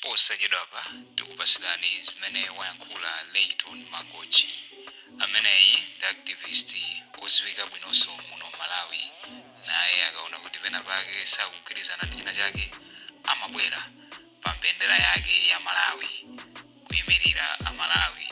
Posachedwapa tikupatsirani zimene wayankhula Layton Mangochi. Ameneyi ndi activist odziwika bwinonso muno Malawi. Naye akaona kuti pena pake sakugwirizana ndi china chake amabwera pa mbendera yake ya Malawi kuimirira aMalawi.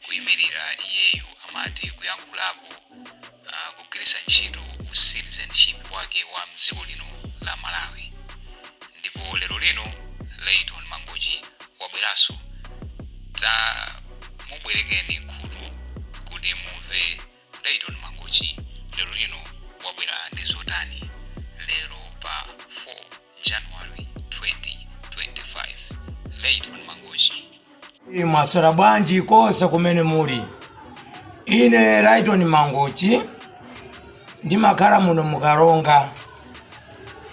kuimirira iyeyu amati kuyankhulapo kugwiritsa ntchito u citizenship wake wa mdziko lino la malawi ndipo lero lino layton mangochi wabweranso tamubwerekeni khutu kuti mumve Layton Mangochi lero lino wabwera ndi zotani lero pa 4 January 2025 Layton Mangochi mwaswera bwanji konse kumene muli ine Layton Mangochi ndimakhala muno mu Karonga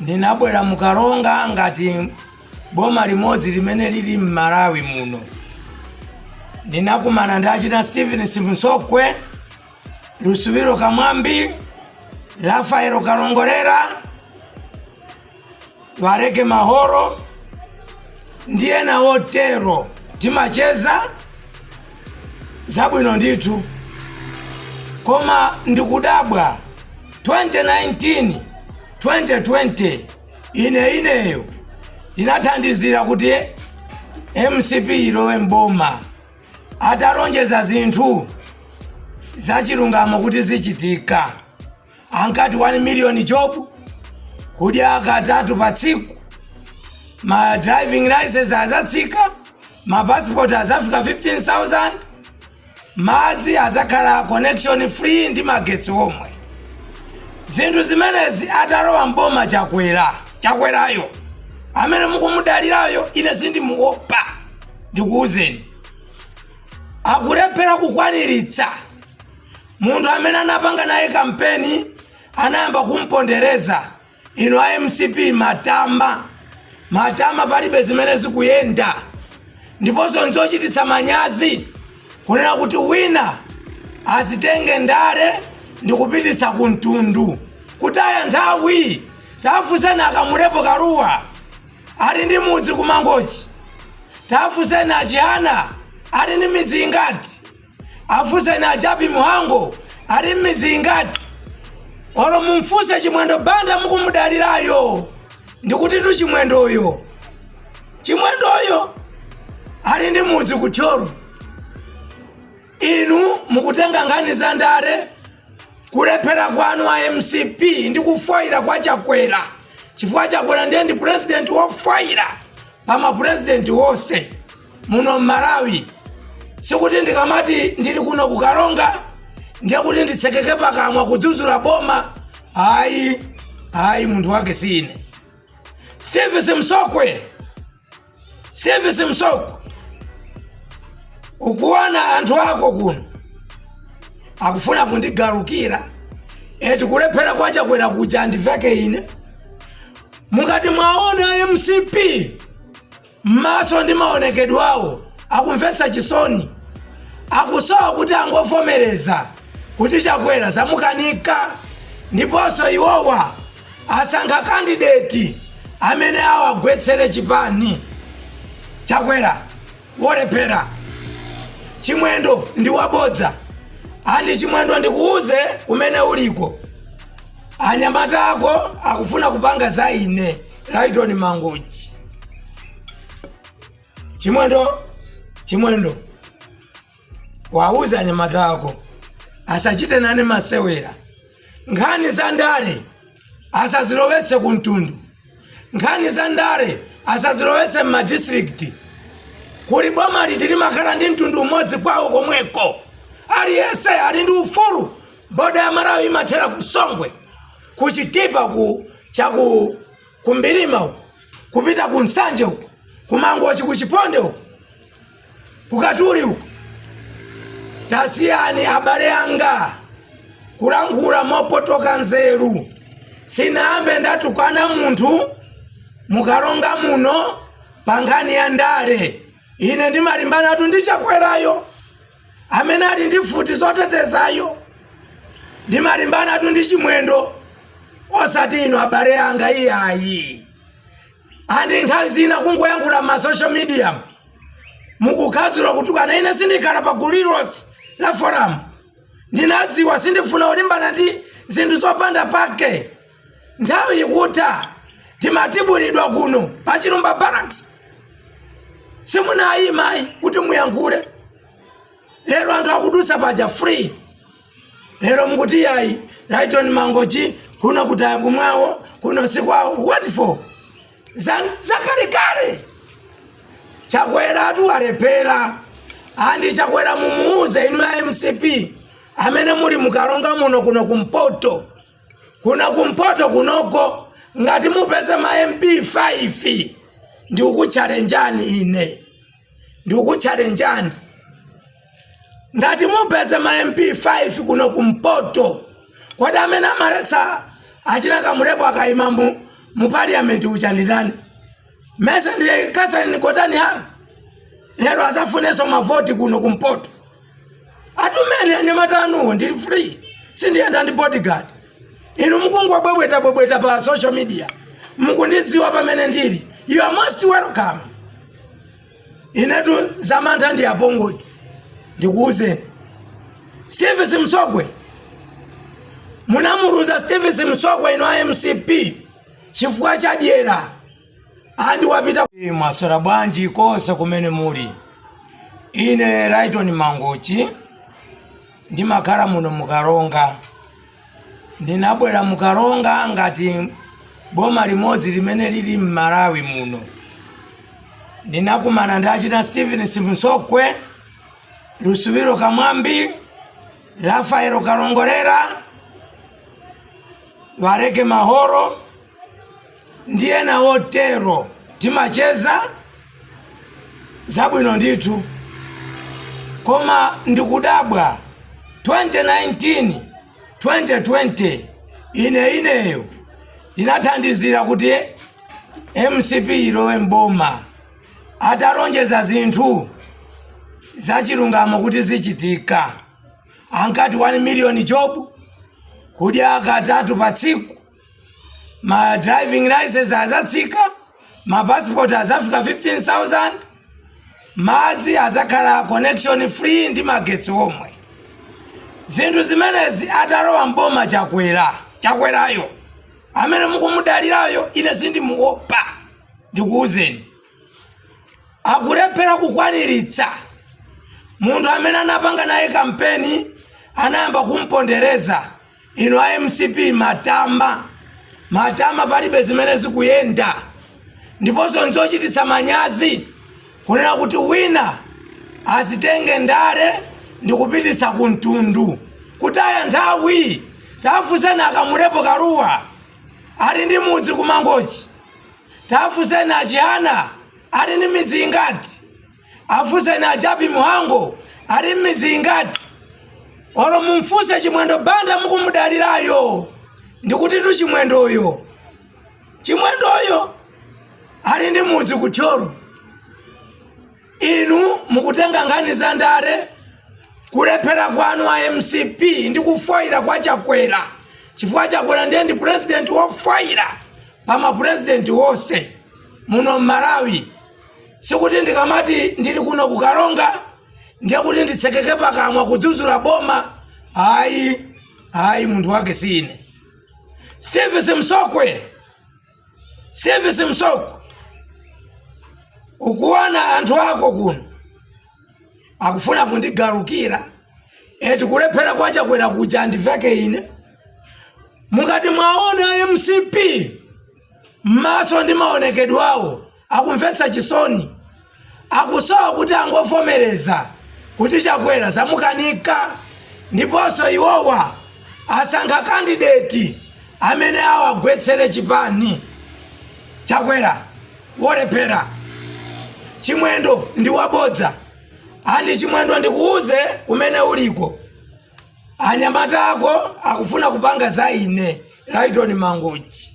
Ndinabwera mu Karonga ngati boma limodzi limene lili m'Malawi muno. Ndinakumana ndi achina Stephen Simsokwe, Lusubilo Kamwambi, Rafael Kalongolera, Wareke Mahoro ndi ena otero. Timacheza zabwino ndithu, koma ndikudabwa 2019 2020 ine ineyo ndinathandizira kuti mcp ilowe mboma atalonjeza zinthu zachilungamo kuti zichitika ankati 1 million job kudya katatu pa tsiku ma driving license azatsika ma passport azafika 15000 Madzi adzakhala connection free ndi magetsi omwe. Zinthu zimenezi atalowa m'boma Chakwerayo amene mukumudalirayo ine sindimuopa ndikuuzeni. Akulephera kukwaniritsa. Munthu amene anapanga naye kampeni anayamba kumpondereza. Inu a mcp matama matama palibe zimene zikuyenda ndiponso nzochititsa manyazi kunena kuti wina azitenge ndale ndikupititsa ku mtundu kutaya nthawi tafunseni a Kamlepo Kalua ali ndi mudzi ku Mangochi tafunseni a Chihana ali ndi midzi ingati afunseni a jappie mhango ali m'midzi ingati olo mumfunse chimwendo banda mukumudalirayo ndikuti tu chimwendoyo chimwendoyo ali ndi mudzi ku thyolo inu mukutenga nkhani za ndale kulephera kwanu a mcp ndi kufoyira kwa chakwera chifukwa chakwera ndiye ndi pulezidenti wofoyira pa mapulezidenti onse muno mmalawi sikuti ndikamati ndili kuno kukaronga ndiye kuti nditsekeke pakamwa kudzudzula boma ayi ayi munthu wake si ine steve simsokwe steve simsokwe ukuona anthu ako kuno akufuna kundigalukira eti kulephera kwa chakwera kuja andiveke ine mukati mwawona mcp M'maso ndi maonekedwe awo akumvetsa chisoni. Akusowa kuti angovomereza kuti Chakwera zamukanika ndiponso iwowa asankha kandideti amene awagwetsere chipani. Chakwera wolephera. Chimwendo ndi wabodza. And Chimwendo ndikuuze kumene uliko. Anyamata ako akufuna kupanga za ine. Lighton Mangochi. Chimwendo, Chimwendo. Wauze anyamata ako asachite nane masewera. Nkhani za ndale asazilowetse ku mtundu. Nkhani za ndale asazilowetse m'madistrict. Kuli boma liti limakhala ndi mtundu umodzi kwawo komweko. Aliyense ali ndi ufulu boda ya malawi imathera ku songwe ku chitipa chaku mbilima uko kupita ku nsanje uko kumangochi ku chiponde uku kukatuli uko tasiyani abale anga kulankhula mopotoka nzeru sinambe ndatukwana munthu mukaronga muno pa nkhani ya ndale ine ndimalimbanatu ndi chakwerayo amene ali ndi mfuti zotetezayo ndimalimbanatu ndi chimwendo osati inu abale anga iyayi andi nthawi zina kungoyankhula m'ma social media mukukhazula kutukana ine sindikhala pa gulu lilonse la forum ndinadziwa sindifuna kulimbana ndi zinthu zopanda pake Nthawi ikutha timatibulidwa kuno pa Chilumba Barracks. Simunayima ayi kuti muyankhule. Lero anthu akudutsa paja free. Lero mukuti yayi Lyton Mangochi kuno kutaya kumwawo kuno sikwawo what for? Zakalekale. Chakweratu walephera. Andi Chakwera mumuuze inu a MCP amene muli mu Karonga muno kuno kumpoto. kuno kumpoto kunoko ngati mupeze ma mp 5 ndikukutchalenjani ine ndikukutchalenjani ngati mupeze ma mp 5 kuno kumpoto kodi amene amaletsa achina kamlepo akayima mu, mu parliament uja ndi ndani mesa ndiye catherine gotani hara lero azafunenso mavoti kuno kumpoto atumeni anyamata anuwo ndili free sindiyenda ndi bodyguard inu mukungobwebweta bwebweta pa social media mukundidziwa pamene ndili you are most welcome inetu zamantha ndi apongozi ndikuwuzeni steve simsokwe munamuluza steve simsokwe inu a mcp chifukwa cha dyera andi wapita mwaswera bwanji konse kumene muli ine Lyton Mangochi ndimakhala muno mu Karonga ndinabwera mu Karonga ngati boma limodzi limene lili m'Malawi muno ndinakumana ndi achina Stephen Simsokwe Lusubilo Kamwambi Rafael Kalongolera Wareke Mahoro ndi ena otero. Timacheza zabwino ndithu koma ndikudabwa 2019 2020 ine ineyo ndinathandizira kuti mcp ilowe mboma atalonjeza zinthu zachilungamo kuti zichitika ankati 1 million job kudya katatu pa tsiku ma driving license azatsika ma passport azafika 15000 madzi azakhala connection free ndi magetsi omwe zinthu zimenezi atalowa mboma chakwerayo amene mukumudalirayo ine sindimuopa ndikuwuzeni akulephera kukwaniritsa munthu amene anapanga naye kampeni anayamba kumpondereza inu a mcp matama matama palibe zimene zikuyenda ndiponso nzochititsa manyazi kunena kuti wina azitenge ndale ndikupititsa ku mtundu kutaya nthawi tafunseni akamulepo kaluwa ali ndi mudzi ku mangochi Tafunseni a Chihana ali ndi midzi ingati? Afunseni a Japi Mhango ali ndi midzi ingati? Olo mumfunse Chimwendo Banda mukumudalirayo, ndikutitu Chimwendoyo, Chimwendoyo ali ndi mudzi ku Thyolo. Inu mukutenga nkhani za ndale, kulephera kwanu a mcp ndi kufoira kwa Chakwera chifukwa Chakwera ndiye ndi president wofoira pa ma president onse muno m'Malawi. Sikuti ndikamati ndili kuno ku Karonga ndiye kuti nditsekeke pakamwa kudzudzula boma. Hayi, hayi munthu wake si ine. Steve Simsokwe Steve Simsokwe, ukuona anthu ako kuno akufuna kundigalukira eti kulephera kwa chakwera kuja andiveke ine mukati mwaona mcp m'maso ndi maonekedwe awo akumvetsa chisoni akusowa kuti angovomereza kuti chakwera zamukanika ndiponso iwowa asankha kandideti amene awagwetsere chipani chakwera wolephera chimwendo ndi wabodza andi chimwendo ndikuuze kumene uliko anyamata ako akufuna kupanga za ine laitoni mangochi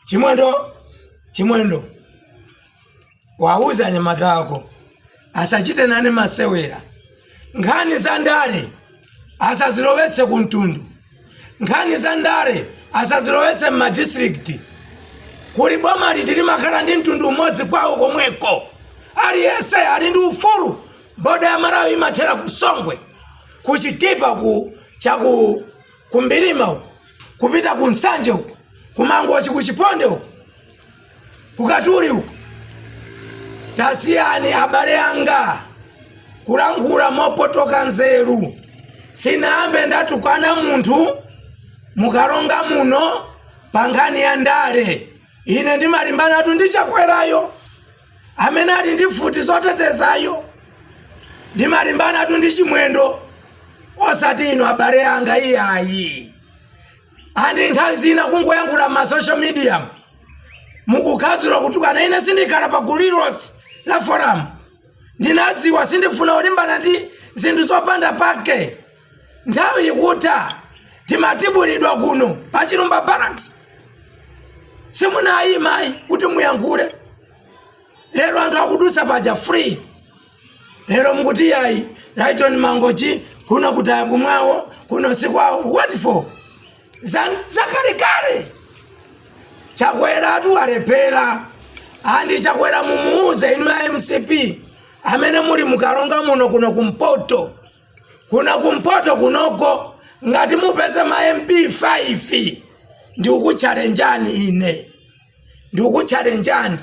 chimwendo chimwendo wauze anyamata ako asachite nane masewera nkhani za ndale asazilowetse ku mtundu nkhani za ndale asazilowetse m'madistrikiti kuli boma liti limakhala ndi mtundu umodzi kwawo komweko aliyense ali ndi ufulu boda ya malawi imathera ku songwe ku chitipa ku chaku ku mbilima uko kupita ku nsanje uko ku mangochi ku chiponde uko ku katuli uko tasiyani abale anga kulankhula mopotoka nzeru sinambe ndatukwana munthu mu karonga muno pa nkhani ya ndale ine ndimalimbanatu ndi chakwerayo amene ali ndi mfuti zotetezayo ndimalimbanatu ndi chimwendo osati inu abale anga iyayi and nthawi zina kungoyankhula ma social media mukukhazula kutukana ine sindikhala pa gulu lililonse la forum ndinadziwa sindifuna kulimbana ndi zinthu zopanda pake Nthawi ikutha timatibulidwa kuno pa Chilumba Barracks. Simunayima ayi kuti muyankhule. Lero anthu akudutsa paja free. Lero mukuti yayi Lyton Mangochi kuno kutaya kumwawo kuno sikwawo what for? Zakalekale. Chakwera atu alephera. And Chakwera mumuuze inu a MCP amene muli mukalonga muno kuno kumpoto. kuno kumpoto kunoko ngati mupeze ma mp 5 ndikukutchalenjani ine ndikukutchalenjani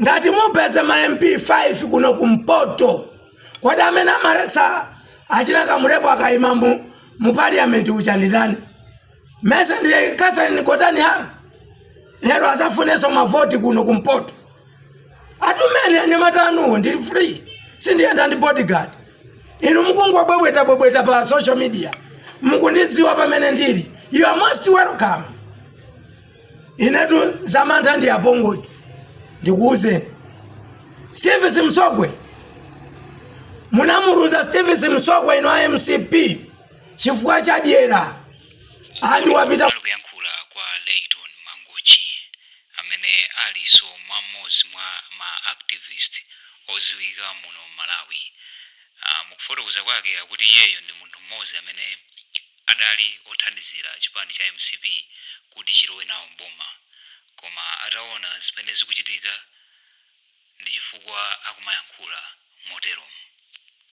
ngati mupeze ma mp 5 kuno kumpoto kodi amene amaletsa achina kamulepo akaima u mu parliament uja ndi ndani mesa ndi catherine gotani hara lero adzafunenso mavoti kuno kumpoto atumeni anyamata anu ndili free sindiyenda ndi bodyguard inu mukungobwebweta bwebweta pa social media mukundidziwa pamene ndili you are most welcome inetu zamantha ndi apongozi ndikuwuzeni steve simsogwe munamuluza steve simsogwe inu a mcp chifukwa cha dyera and wapita kuyankhula kwa Lyton Mangochi amene alinso mwa mmodzi mwa ma activist odziwika muno Malawi. Uh, mukufotokoza kwake akuti iyeyo ndi munthu mmodzi amene adali othandizira chipani cha mcp kuti chilowe nawo mboma koma ataona zimene zikuchitika ndi chifukwa akumayankhula motero